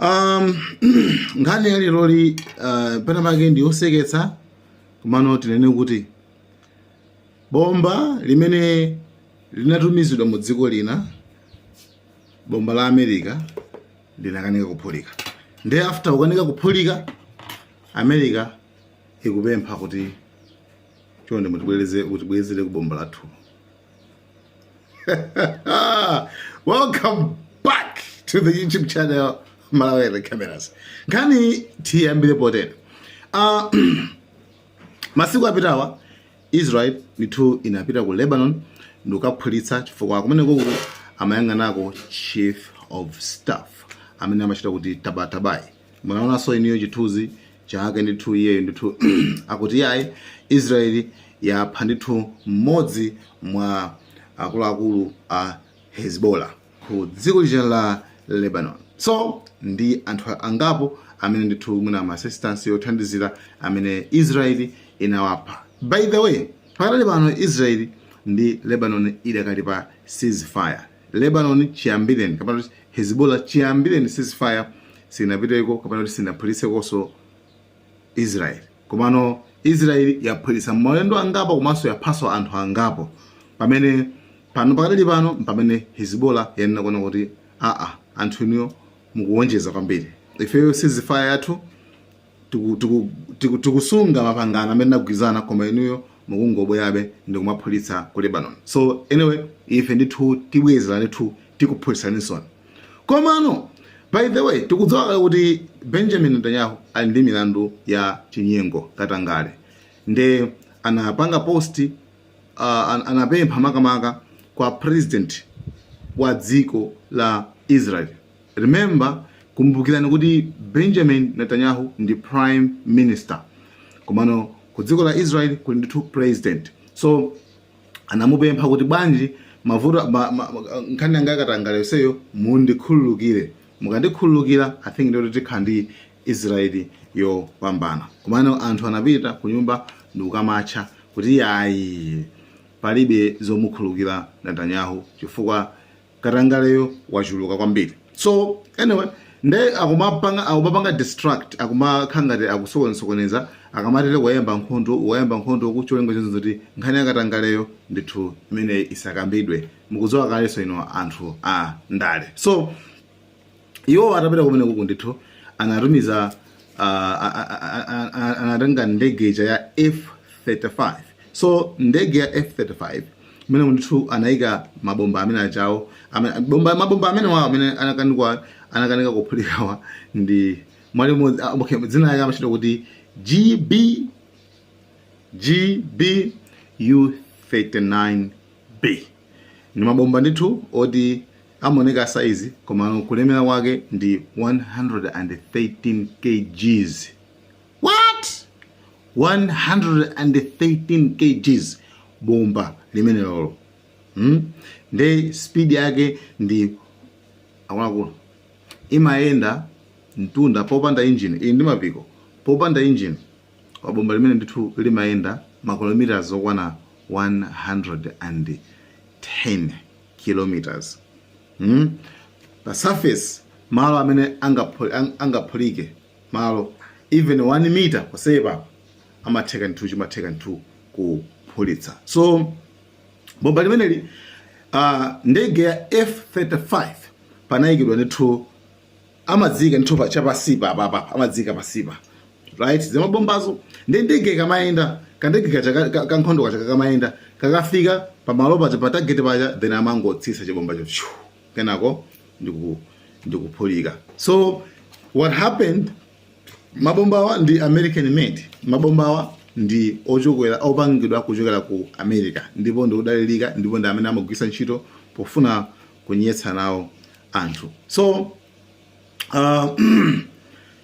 um, nkhani ya leroyi uh, pena pake ndi yoseketsa komano tinene kuti bomba limene linatumizidwa mu dziko lina bomba la america linakanika kuphulika nde after kukanika kuphulika america ikupempha kuti chonde mutibwereze mutibwezereko bomba lathu welcome back to the youtube channel malawi cameras nkhani tiyambire potere uh, masiku apitawa israel ndithu inapita ku lebanon ndikukaphulitsa chifukwa kumeneko amayang'anako chief of staff amene amatchedwa kuti tabatabai munaonanso inuyo chithunzi chake ndithu iyeyo ndithu akuti iyayi israeli yapha ndithu mmodzi mwa akuluakulu a hezbollah ku dziko lija la lebanon so ndi anthu angapo amene ndithu mwina ma assistants othandizira amene israeli inawapha by the way pakadali pano israeli ndi lebanon idakali pa ceasefire Lebanon chiyambireni kapena kuti Hezbollah chiyambireni ceasefire sinapiteko kapena kuti sinaphulitsekonso Israel. Komano Israel yaphulitsa maulendo angapo komanso yaphanso anthu angapo pamene pano pakadali pano mpamene Hezbollah yanena kuona kuti aa anthu inuyo mukuwonjeza kwambiri ifeyo ceasefire yathu tiku- tiku- tiku- tikusunga mapangano amene tinagwirizana koma inuyo mukungobwerabe ndikumaphulitsa ku lebanon so anyway ife ndithu tibwezera ndithu tikuphulitsaninsoni komano by the way tikudziwa kale kuti benjamin netanyahu ali ndi milandu ya chinyengo katangale nde anapanga post uh, an- anapempha makamaka kwa president wa dziko la israel Remember, kumbukirani kuti Benjamin Netanyahu ndi prime minister komano ku dziko la Israel kuli ndithu president so anamupempha kuti bwanji mavuto ma, ma, nkhani yanga yakatangale yonseyo mundikhululukire mukandikhululukira i think ndikuti tikhala ndi israeli yopambana komano anthu anapita ku nyumba ndikukamatcha kuti yayi palibe zomukhululukira netanyahu chifukwa katangaleyo wachuluka kwambiri so anyway nde akumapanga akumapanga distract akumakhala ngati akusokonezasokoneza akamatere wayamba nkhondo wayamba nkhondo koma cholinga chonse choti nkhani yakatangaleyo ndithu imene isakambidwe mukudziwa kalenso inu anthu a ndale so iwo atapita kumene kuku ndithu anatumiza uh, a- a- a- a- a- anatenga ndege ija ya f35 so ndege ya f35 imene ndithu anayika mabomba amene achawo amene- bomba- mabomba amenewawo amene anakanikwa anakanika kuphulikawa ndi mwa limodzi ah, okay, dzina yake amachita kuti gb GBU39B ndi mabomba ndithu oti Amaoneka size komano kulemera kwake ndi 113 kgs what 113 kgs bomba limenelolo hmm? nde speed yake ndiye akuluakulu imayenda mtunda popanda engine ili ndi mapiko popanda engine kwa bomba limene ndithu limayenda makilometers okwana 110 km mm? pa surface malo amene angaphulike ang, angaphulike malo even 1 mita posepa amatheka nthu chimatheka nthu kuphulitsa so bomba limeneli uh, ndege ya f35 panayikidwa ndithu amadziika ndithu pa chapasipa apapa amadziika pasipa right zamabombazo ndi ndege ikamayenda kandege kaja ka- ka- kankhondo kaja kakamayenda kakafika pamalo paja pa target paja then amangotsisa chibombacho pshu, kenako ndiku ndikuphulika so what happened mabombawa ndi american made mabombawa ndi ochokera opangidwa kuchokera ku america ndipo ndi odalirika ndipo ndi amene amagwisa ntchito pofuna kunyetsa nawo anthu so uh,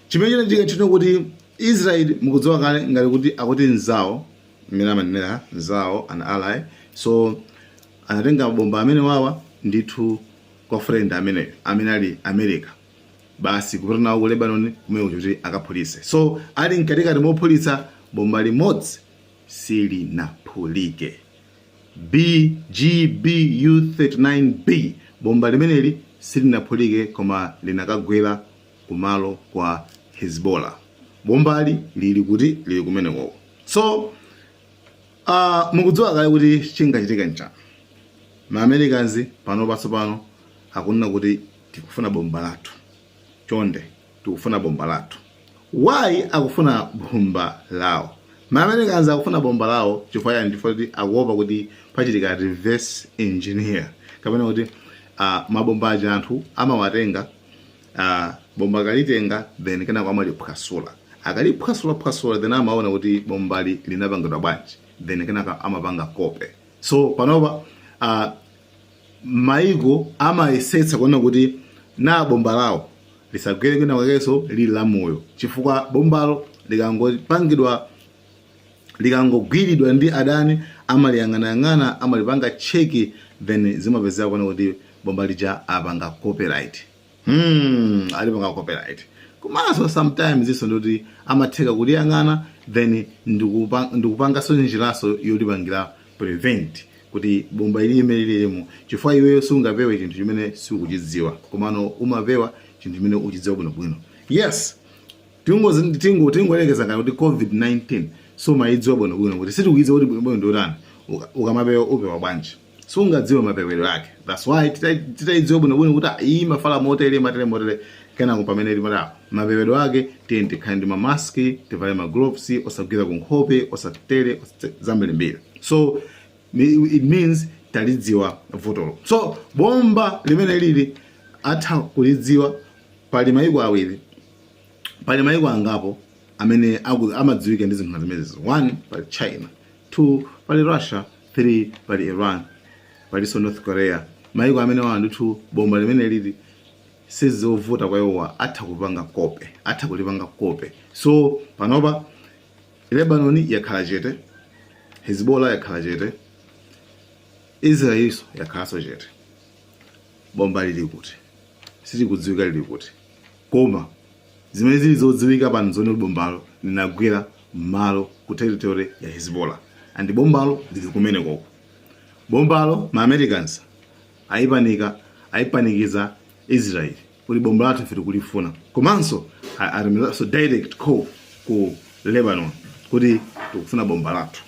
chimene chinachitika n'china kuti israel mukudziwa kale ngati kuti akuti nzawo mmene amanenera nzawo an ally so anatenga mabomba amenewawa ndithu kwa friend ameneyo amene ali america basi kupita nawo ku lebanon kumene kuti akaphulitse so ali mkatikati mophulitsa bomba limodzi silinaphulike BGBU-39B, Bomba limeneli silinaphulike koma linakagwera kumalo kwa Hezbollah. Bombali lili kuti? Lili kumenekoko. So, aah, mukudziwa kale kuti chingachitika n'chani. Ma Americans pano patsopano akunena kuti tikufuna bomba lathu. Chonde. tikufuna bomba lathu. Why akufuna bomba lawo? Ma Americans akufuna bomba lawo chifukwa chani? Chifukwa choti akuopa kuti pachitika reverse engineer kapena kuti uh, mabomba aja anthu amawatenga uh, bomba akalitenga then kenako amaliphwasula akaliphwasula phwasula then amaona kuti bombali linapangidwa bwanji then kenako amapanga kope so panopa uh, maiko amayesetsa kuona kuti naa, bomba lawo lisagwere kwina kwakenso lili la moyo chifukwa bombalo likangopangidwa likangogwiridwa ndi adani amaliyang'anayang'ana amalipanga check then zimapezeka kunena kuti bomba lija apanga copyright Hmm, alipanga copyright komanso sometimes-nso ndikuti amatheka kuliyang'ana then ndikupa- ndikupangaso njiraso yolipangira prevent kuti bomba ili limeneli mmm chifukwa iweyo sungapewe chinthu chimene sukuchidziwa komano umapewa chinthu chimene uchidziwa bwinobwino yes tingozi- tingo- tingoyerekeza ngati kuti covid-19 sumayidziwa bwinobwino kuti sitikuyidziwa kuti bwinobwino ndiotani ukamapewa upewa bwanji sungadziwe mapewedwe ake that's why tita- titaidziwa bwinobwino kuti ah, iyi imafala motere matere motere kenako pamene ili mmalo mapewedwe ake tiye tikhale ndi mamaski tivale ma gloves osagwira ku nkhope osatere osate- zambirimbiri so mi- it means talidziwa vutolo so bomba limeneli atha kulidziwa pali mayiko awiri pali mayiko angapo amene aku- amadziwika ndi zinthu zimenezi one pali china 2 pali Russia 3 pali Iran palinso North Korea maiko amenewa ndithu bomba limeneli sizovuta kwa iwowa atha kupanga kope atha kulipanga kope so panopa Lebanon yakhala chete Hezbollah yakhala chete Israelinso yakhalanso chete bomba lili kuti silikudziwika lili kuti Koma zimene zili zodziwika pano nzoti bombalo linagwera m'manja ku territory ya Hezbollah and bombalo lili kumenekoko. Bombalo ma Americans ayipanika, ayipanikiza Israel kuti bomba lathu ife tikulifuna. Komanso atumizaso direct call ku Lebanon kuti tikufuna bomba lathu.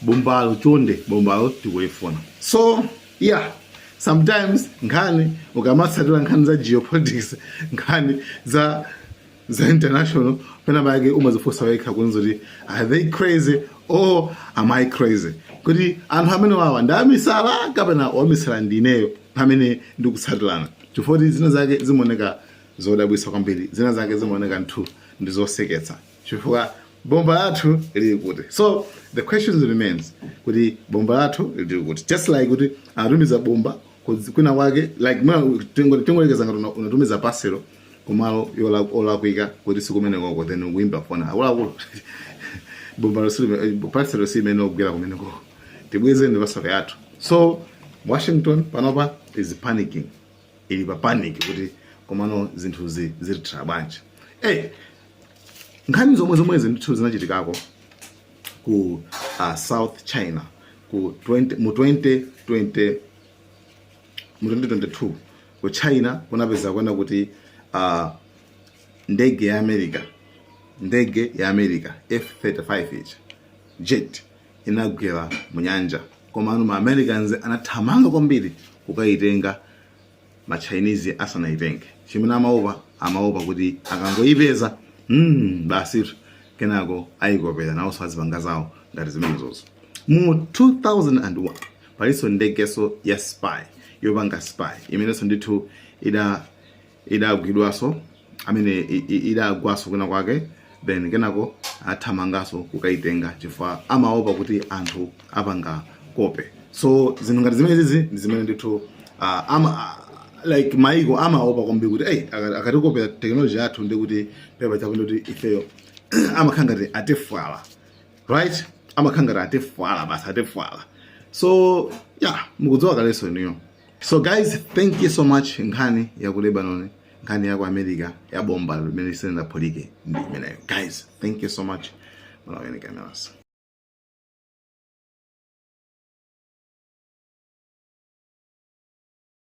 bombalo chonde bombalo tikulifuna so yeah sometimes nkhani ukamatsatira nkhani za geopolitics nkhani za za international pena pake umadzifunsa wekha kunena kuti are they crazy or am i crazy kuti anthu amenewawa ndi amisala kapena wamisala ndineyo amene ndikutsatirane chifukwa kuti zina zake zimaoneka zodabwitsa kwambiri zina zake zimaoneka ndithu ndi zoseketsa chifukwa bomba lathu lili kuti so the question remains kuti bomba lathu lili kuti just like kuti anatumiza bomba ku- kwina kwake like mwa tingo- tingoyerekeza ngati una- unatumiza paselo kumalo yola- olakwika kuti sikumene koko then ukuyimba fona akuluakulu bomba losili- paselo imeneyo yagwera kumene koko tibwezereni paselo yathu so washington panopa is panicking ili pa panic kuti komano zinthuzi zitithera bwanji hey, Nkhani zomwezomwezi ndithu zinachitikako ku uh, South China ku 20, mu 2020 mu 2022 ku China kunapeza kuona kuti uh, ndege ya America ndege ya America F35 jet inagwera mu nyanja komano ma Americans anathamanga kwambiri kukayitenga ma Chinese asanaitenge. Chimene amaopa, amaopa kuti akangoipeza, mm, basi kenako aikopera nawonso azipanga zawo ngati zimenezozo. Mu 2001 palinso ndegeso ya spy yopanga spy imenenso ndithu ida idagwidwaso amene idagwaso kwina kwake then kenako athamanganso kukaitenga chifukwa amaopa kuti anthu apanga kope so zinthu ngati zimenezizi ndi zimene ndithu ah, ama ah, like maiko amaopa kwambiri kuti hey, akatikopera teknoloji yathu ndi kuti pamapeto pake ndi kuti ifeyo amakhala ngati atifulira right amakhala ngati atifulira basi atifulira so yeah mukudziwa kalenso inuyo so guys thank you so much nkhani ya ku lebanon nkhani ya ku america ya bomba limene lisanaphulike ndi imeneyo guys thank you so much malawian cameras